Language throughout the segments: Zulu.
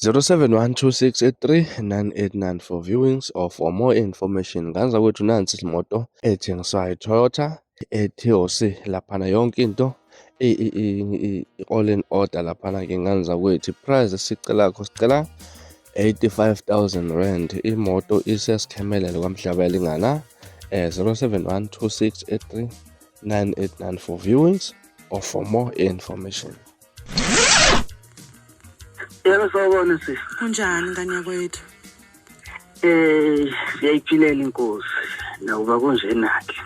0712639894 for viewings or for more information nganza kwethu nansi imoto ethengiswayo iToyota eTOC laphana yonke into i-all in order laphana ke nganza kwethu price sicela kho sicela 85000 rand imoto isesikhemelele kwamhlaba yalingana eh 0712639894 viewings or for more information Yebo sawubona sisi. Kunjani ngane yakwethu? Eh, siyayiphilela inkosi. Nawuba kunjena ke.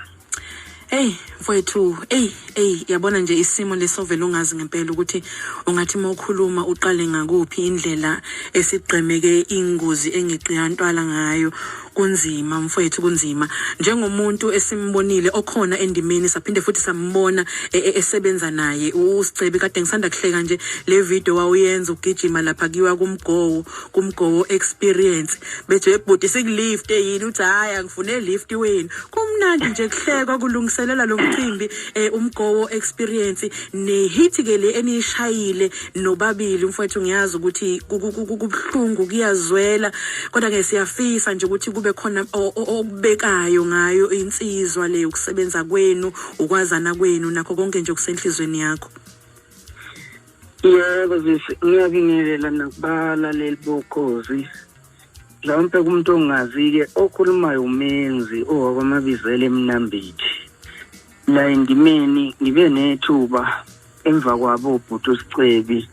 Hey mfowethu, hey hey yabona nje isimo lesovela ungazi ngempela ukuthi ungathi uma ukhuluma uqale ngakuphi indlela esigqemeke ingozi engeqiyantwala ngayo Kunzima mfwethu kunzima njengomuntu esimbonile okhona endimeni saphinde futhi sambona e, e, esebenza naye uScebi kade ngisanda kuhleka nje le video wawuyenza ugijima lapha kiwa kumgowo kumgowo experience bethe ebhuti sikulift yini uthi hayi angifune lift wenu kumnandi nje kuhlekwa kulungiselela lo mcimbi e, umgowo experience nehit ke le enishayile nobabili mfowethu ngiyazi ukuthi kubuhlungu kuyazwela kodwa ke siyafisa nje ukuthi kube khona okubekayo ngayo insizwa le ukusebenza kwenu ukwazana kwenu nakho konke nje okusenhlizweni yakho yebo sisi ngiyabingelela nakubalaleli bokhozi mhlawumpe kumuntu ongazi-ke okhulumayo umenzi owakwamabizela emnambithi la endimeni ngibe nethuba emva kwabo ubhuti usicebi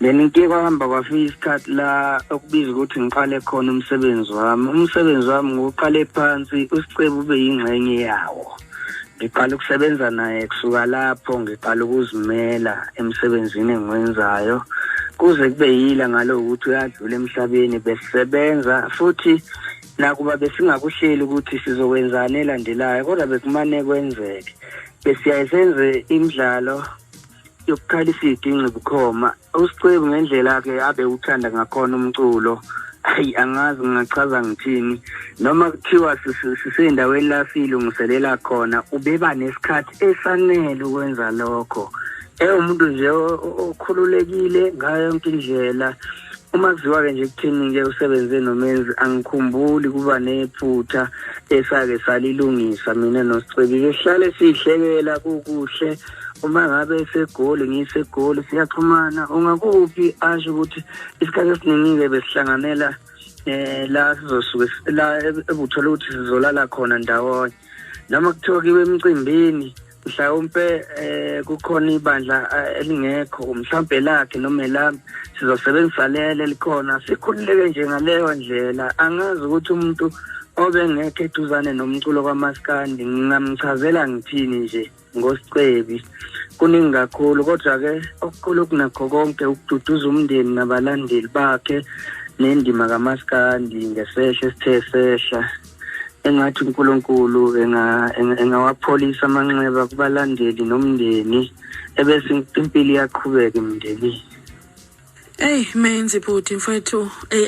then ke kwahamba kwafika isikhathi la okubiza ukuthi ngiqale khona umsebenzi wami umsebenzi wami ngiwuqale phansi usicebi ube yingxenye yawo ngiqala ukusebenza naye kusuka lapho ngiqala ukuzimela emsebenzini engiwenzayo kuze kube yila ngalo ukuthi uyadlula emhlabeni besisebenza futhi nakuba besingakuhleli ukuthi sizokwenzani elandelayo kodwa bekumane kwenzeke besiyaye senze imidlalo yokuqala isidi ingcibukhoma usicebu ngendlela-ke abe uthanda ngakhona umculo hayi angazi ngingachaza ngithini noma kuthiwa sisendaweni la siyilungiselela khona ubeba nesikhathi esanele ukwenza lokho ewumuntu nje okhululekile ngayo yonke indlela umaziwa-ke nje kuthini-ke usebenze nomenzi angikhumbuli kuba nephutha esake salilungisa mina nosicebile sihlale sihlekela kukuhle uma ngabe esegoli ngisegoli siyaxhumana ungakuphi asho ukuthi isikhathi esiningi-ke besihlanganela um la sizosuke la ebuthola ukuthi sizolala khona ndawonye noma kuthiwa kiwe emcimbini mhlawumpe eh kukhona ibandla eh, elingekho mhlawumbe lakhe noma elami sizosebenzisa lele likhona sikhululeke nje ngaleyo ndlela angazi ukuthi umuntu obengekho eduzane nomculo kwamaskandi ngingamchazela ngithini nje ngosicebi kuningi kakhulu kodwa-ke okukhulu kunakho konke ukududuza umndeni nabalandeli bakhe nendima kamaskandi ngesehla esithe sehla engathi uNkulunkulu engawapholisa amanxeba kubalandeli nomndeni ebese impilo iyaqhubeka emndenini Ey menzi bhuti mfethu ey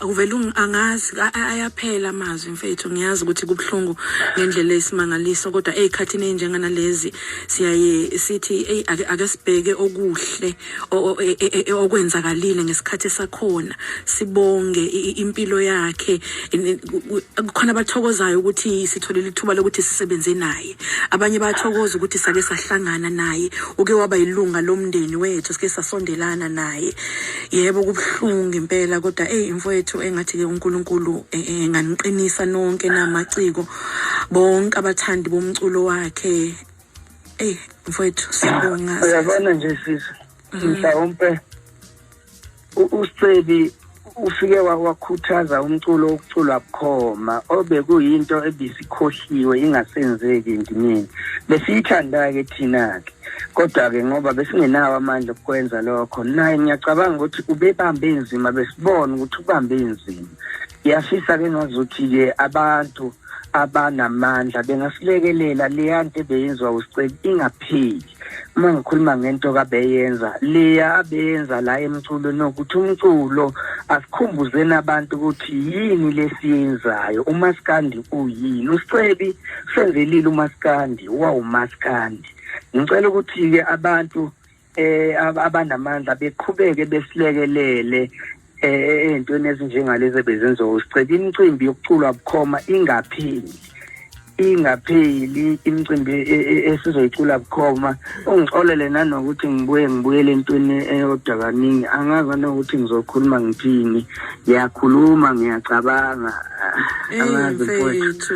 uvela angazi ayaphela amazwi mfethu ngiyazi ukuthi kubhlungu ngendlela esimangaliso kodwa ey khathini enjengana lezi siyaye sithi ey ake sibheke okuhle e, e, e, okwenzakalile ngesikhathi sakhona sibonge impilo yakhe kukhona abathokozayo ukuthi sitholile ithuba lokuthi sisebenze naye abanye bathokoza ukuthi sake sahlangana naye uke waba yilunga lomndeni wethu sike sasondelana naye yebo kubuhlungu impela kodwa eyi mfowethu engathi ke uNkulunkulu enganiqinisa nonke namaciko bonke abathandi bomculo wakhe eyi mfowethu siyabonga uyabona nje sisi mhm. mhlawumpe usicebi ufike wakhuthaza umculo wokuculwa bukhoma obekuyinto ebisikhohliwe ingasenzeki ndimini besiyithanda-ke thina-ke kodwa-ke ngoba besingenawo amandla okukwenza lokho naye ngiyacabanga ukuthi ubebambe nzima besibona ukuthi ubambe nzima ngiyafisa-ke ngazuthi-ke abantu abanamandla bengasilekelela leya nto ebeyenziwa uSceli ingapheli uma ngikhuluma ngento kabeyenza leya abeyenza la emculo nokuthi umculo asikhumbuzeni abantu ukuthi yini lesiyenzayo umaskandi uyini uScebi senzelile umaskandi wawumaskandi ngicela ukuthi-ke abantu eh abanamandla beqhubeke besilekelele eh entweni ezinjengalezi bezenzo sicela imicimbi yokuculwa bukhoma ingapheli ingapheli imicimbi e, e, esizoyicula bukhoma ungixolele nanokuthi ngibuye ngibuyele entweni eyodwa kaningi angazi nokuthi ngizokhuluma ngithini ngiyakhuluma ngiyacabanga angazi mfowethu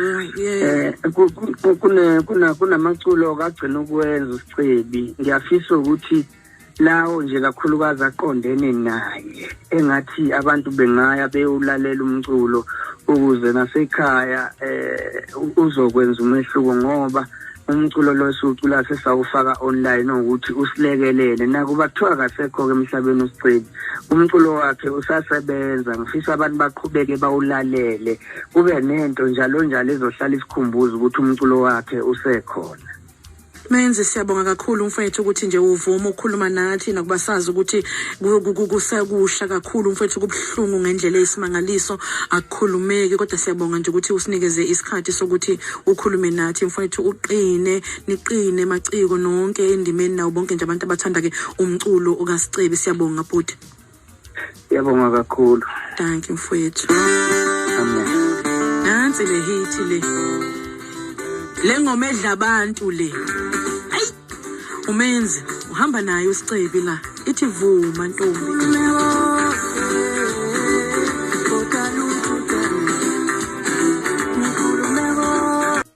um kunamaculo kagcina ukwenza Cebi ngiyafisa ukuthi lawo nje kakhulukazi aqondene naye engathi abantu bengaya bewulalela umculo ukuze nasekhaya eh uzokwenza umehluko ngoba umculo lo siwucula sesawufaka online ukuthi usilekelele nakuba kuthiwa kasekho-ke emhlabeni usigcini umculo wakhe usasebenza ngifisa abantu baqhubeke bawulalele kube nento njalo njalo ezohlala isikhumbuza ukuthi umculo wakhe usekhona Menzi siyabonga kakhulu mfethu ukuthi nje uvuma ukukhuluma nathi nakuba sazi ukuthi kusekusha kakhulu mfethu kubuhlungu ngendlela eyisimangaliso akukhulumeki kodwa siyabonga nje ukuthi usinikeze isikhathi sokuthi ukhulume nathi mfethu uqine niqine maciko nonke endimeni nawo bonke nje abantu abathanda ke umculo okasicebi siyabonga bhuti Yabonga kakhulu. Thank you mfowethu. Amen. Nansi le hit le. Le ngoma edla abantu le. Ayi. Umenzi uhamba naye usicebi la. Ithi vuma ntombi.